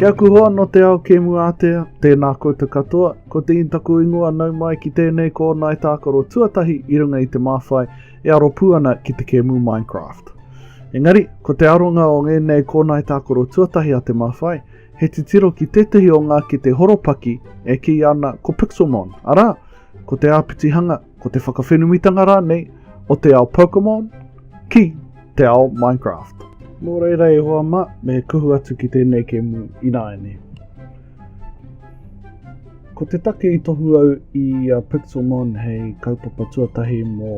Ki aku hoa no te ao kēmu ātea, tēnā koutou katoa, ko te in taku ingoa nau mai ki tēnei ko Nai Tākaro tuatahi i runga i te māwhai e aro pū ana ki te kēmu Minecraft. Engari, ko te aronga o ngēnei ko Nai Tākaro tuatahi a te māwhai, he titiro ki tētehi o ngā kete horopaki e kī ana ko Pixelmon, arā, ko te āpitihanga, ko te whakawhenumitanga rānei o te ao Pokemon ki te ao Minecraft. Nō reira e hoa mā, me kuhu atu ki tēnei kēmu ināiane. Ko te take i tohu au i a Pixelmon hei kaupapa tuatahi mō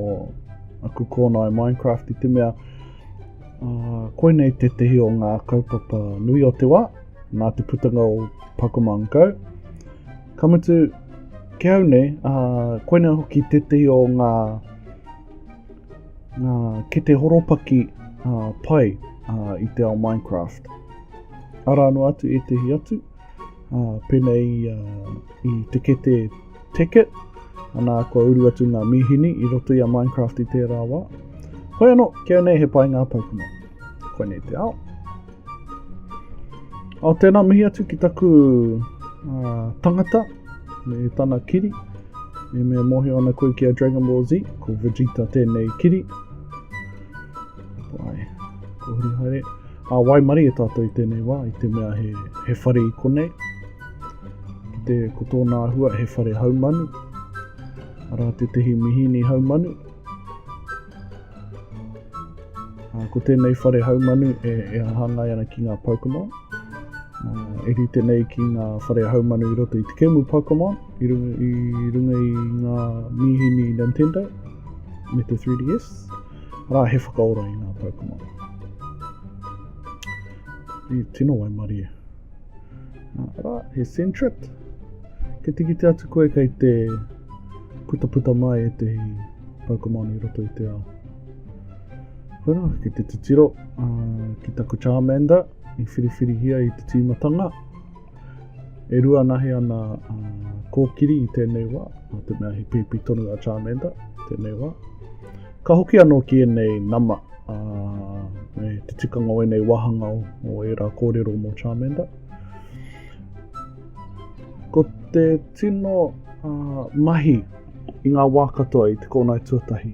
aku kōnae Minecraft i te mea uh, koinei te tehi o ngā kaupapa nui o te wā nā te putanga o Pokemon Go Ka mutu, ki au nei, uh, koina hoki tētehi o ngā, ngā kete horopaki uh, pai uh, i te ao Minecraft. Ara anō atu ētehi atu, uh, pēnei uh, i te kete Ticket, anā kua uru atu ngā mīhini i roto i a Minecraft i tērā wā. Hoi anō, kia nei he pai ngā paukuna. Koinei te ao. Oh, tēnā mihi atu ki taku uh, tangata, me tana kiri. Me mea mohi ana koe ki a Dragon Ball Z, ko Vegeta tēnei kiri. Wai, ko huri haere. A wai mari e tātou i tēnei wā, i te mea he, he whare i konei. Ki te, ko tōna ahua, he whare haumanu. Ara te tehi mihini haumanu. Ko tēnei whare haumanu e, e hāngai ana ki ngā Pokemon. Uh, e rite nei ki ngā whare haumanu i roto i te kemu Pokemon, i runga i, runga i ngā mīhini Nintendo me te 3DS, rā he whakaora i ngā Pokemon. I tino wai mari e. Rā, he Sentret. Ke tikite atu koe kei te Putaputa mai ētehi poukamanu i roto i te ao. Koe rā, ki te titiro uh, ki taku Charmander i whiriwhirihia i te tīmatanga. E rua nahi ana uh, kōkiri i tēnei wā, mā te mea he pēpi tonu a Charmander tēnei wā. Ka hoki anō ki ēnei nama uh, me te tikanga o ēnei wāhanga o, o ērā kōrero mō Charmander. Ko te tino uh, mahi i ngā wā katoa i te kōnai tuatahi,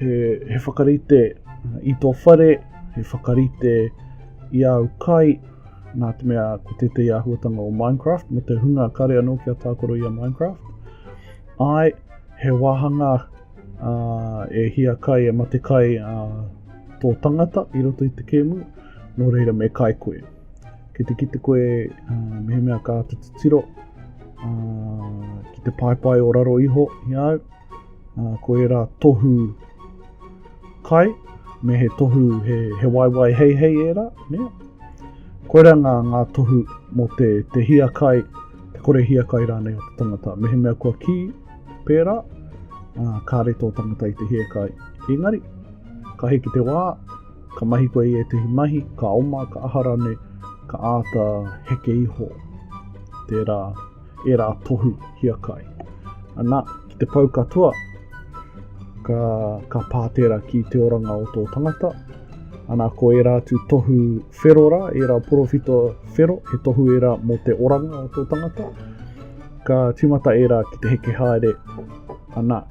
he, he whakarite uh, i tō whare, he whakarite i au kai, nā te mea ko tētehi āhuatanga o Minecraft, me te hunga kare anō ki a tākoro i a Minecraft. Ai, he wāhanga uh, e hia kai, e mate kai uh, tō tangata i roto i te kēmu, nō reira me kai koe. Ki te kite koe uh, mehemea ka atu te tiro, uh, ki te paepae o raro iho i au, uh, ko era tohu kai, me he tohu he, he waiwai hei hei era, ne? Koera ngā, ngā tohu mō te, te hia kai, te kore hia kai rānei o te tangata. Mehemea kua ki, pērā, uh, kāre tō tangata i te hia kai. Engari, ka hiki te wā, Ka mahi koe i ētehi mahi, ka oma, ka aha rānei, ka āta heke iho tērā, ērā tohu hiakai. Anā, ki te pau katoa, ka, ka pā tērā ki te oranga o tō tangata. Anā, ko ērā atu tohu whero rā, ērā porowhito whero, he tohu ērā mō te oranga o tō tangata. Ka tīmata ērā ki te heke haere, anā,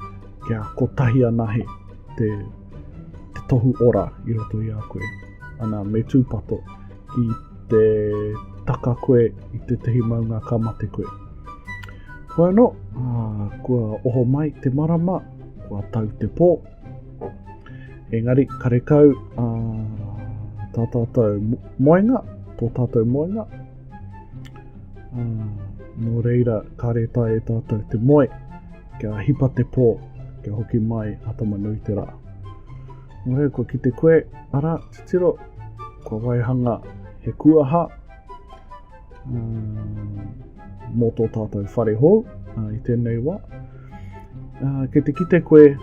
kia kotahi anahe. te, te tohu ora i roto i a koe. Ana, me tūpato ki te taka koe i te tehi maunga ka mate koe. Koe anō, uh, kua oho mai te marama, kua tau te pō. Engari, karekau uh, tā tātou moenga, tō tātou moenga. Uh, nō reira, ka reta e tātou te moe. Kia hipa te pō, kia hoki mai a Tama-nui-te-rā. Nō reira, kua kite koe, ara, titiro, kua waihanga he kuaha uh, mō tō tātou whare hou uh, i tēnei wā. Uh, kei te kite koe,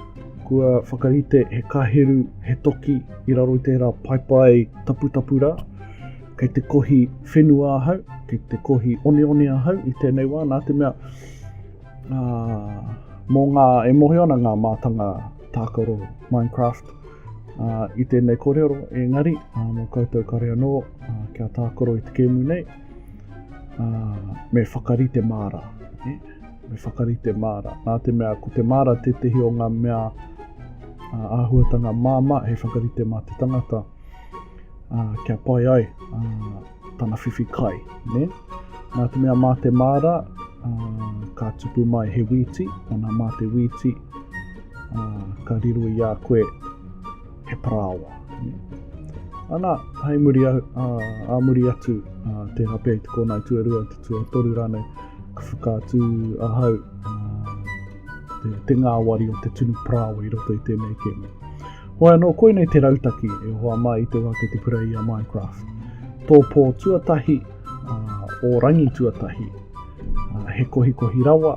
kua whakarite he kaheru, he toki i raro i tērā paepae taputapu rā. Kei te kohi whenua ahau, kei te kohi oneone ahau i tēnei wā, nā te mea Uh, mō ngā, e mōhio ana ngā mātanga tākaro Minecraft uh, i tēnei kōrero, engari, uh, mō koutou kare anō, uh, kia tākaro i te kēmu nei, uh, me whakarite māra. Eh? Me whakarite māra. Nā te mea, ko te māra tētehi o ngā mea uh, āhuatanga māma, he whakarite mā te tangata. uh, kia pai ai uh, tana whiwhi kai. Ne? Nā te mea mā te māra, uh, ka tupu mai he wīti, ana mā te wīti, uh, ka riro i a koe he parāoa. Ne? Ana, hai muri a, a, a muri atu, uh, te hape i te kōnai tuarua, te tuatoru rānei, ka whakaatu ahau, uh, te, te ngāwari o te tunu parāoa i roto i tēnei kēmu. Hoi anō, koinei te rautaki e hoa mai i te wā ki te pura i a Minecraft. Tō pō tuatahi, uh, o rangi tuatahi, uh, he kohikohi rawa,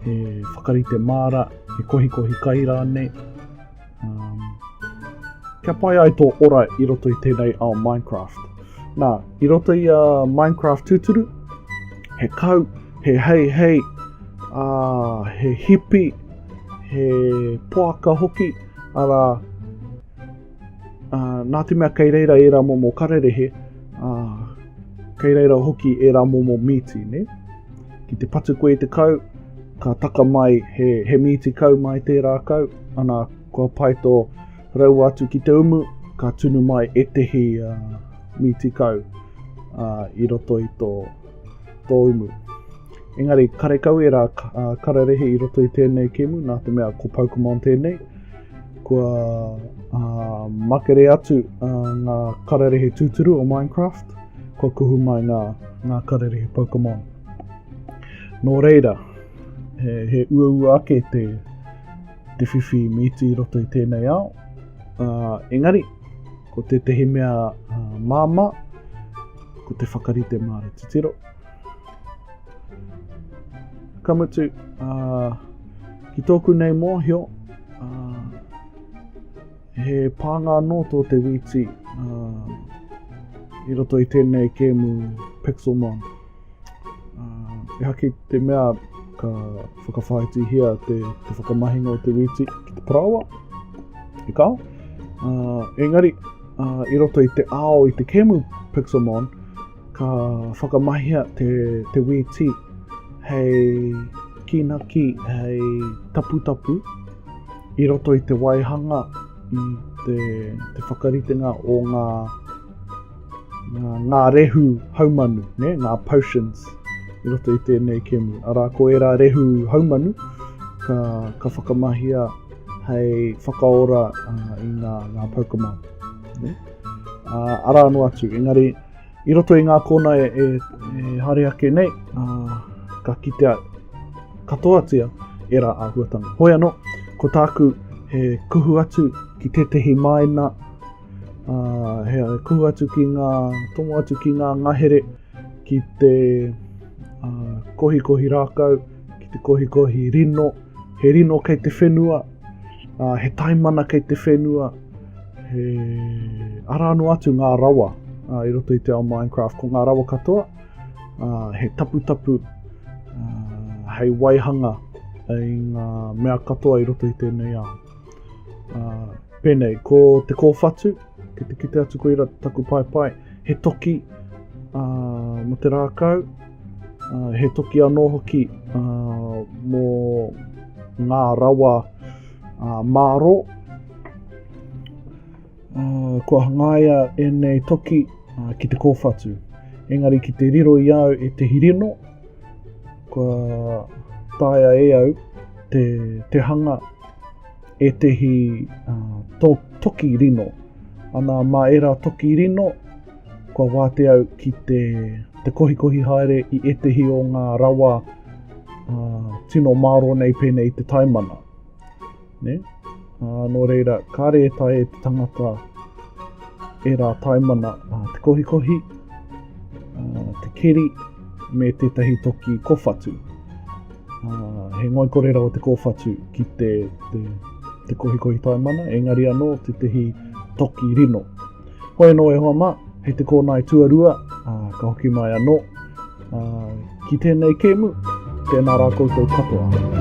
he whakarite māra, he kohikohi kai rānei, Um, kia pai ai tō ora i roto i tēnei ao Minecraft. Nā, i roto i a uh, Minecraft tūturu, he kau, he hei hei, uh, he hipi, he poaka hoki, ara, uh, nā te mea kei reira e rā momo kararehe, uh, kei reira hoki e rā momo mīti, ne? Ki te patu koe i te kau, ka taka mai he, he mīti kau mai tērā kau, ana kua pai tō raua atu ki te umu, ka tunu mai ētehi uh, mīti kau uh, i roto i tō, tō umu. Engari, karekau e rā uh, kararehe i roto i tēnei kēmu, nā te mea ko Pokemon tēnei, kua uh, makere atu uh, ngā kararehe tūturu o Minecraft, kua kuhu mai ngā, ngā kararehe Pokemon. Nō reira, he, he uaua ake te, te whiwhi mīti i roto i tēnei ao. Uh, engari, ko tētahi mea uh, māma, ko te whakarite māra titiro. Ka mutu, uh, ki tōku nei mōhio, uh, He pānga anō tō te wīti uh, i roto i tēnei kēmu Pixelmon. Uh, e haki te mea ka whakawhaitihia te, te whakamahinga o te wīti ki te parawa, i kā. Uh, engari, uh, i roto i te ao i te kēmu Pixelmon, Ka whakamahia te, te wēti hei kīnaki, hei taputapu i roto i te waihanga, i te, te whakaritenga o ngā, ngā, ngā rehu haumanu, ne? ngā potions i roto i tēnei kemu. Arā, ko ērā rehu haumanu, ka, ka whakamahia hei whakaora uh, i ngā, ngā Pokemon. Ne? Uh, arā noa atu, engari I roto i ngā kōna e, e, e hare ake nei, uh, ka kitea katoatia e rā āhuatanga. Hoi anō, ko tāku he kuhu atu ki tētehi māina, uh, he kuhu atu ki ngā, tomo atu ki ngā ngahere, ki te uh, kohikohi rākau, ki te kohikohi rino, he rino kei te whenua, uh, he taimana kei te whenua, he ara anō atu ngā rawa uh, i roto i te ao Minecraft, ko ngā rawa katoa, uh, he taputapu, uh, hei waihanga i ngā mea katoa i roto i tēnei ao. Uh, pēnei, ko te kōwhatu, ki te kite atu koe ira taku paepae, he toki uh, mo te rākau, Uh, he toki anō hoki uh, mō ngā rawa uh, māro. Uh, kua hangaia ēnei toki uh, ki te kōwhatu. Engari ki te riro i au e te hirino, kua taia e au te, te hanga e tehi uh, to, toki rino. Ana mā era toki rino, kua wātea au ki te, te kohikohi haere i ētehi o ngā rawa uh, tino māro nei pēnei te taimana. Ne? Uh, nō reira, kāre e tae e te tangata e rā taimana uh, te kohikohi, uh, te keri, me tētahi toki kowhatu. Uh, he ngoikore rawa te kowhatu ki te, te, te kohikohi taimana, engari anō te tehi toki rino. Hoi anō e hoa mā, hei te kōnae tuarua, ā, ka hoki mai anō, ā, ki tēnei kēmu, tēnā rā koutou katoa.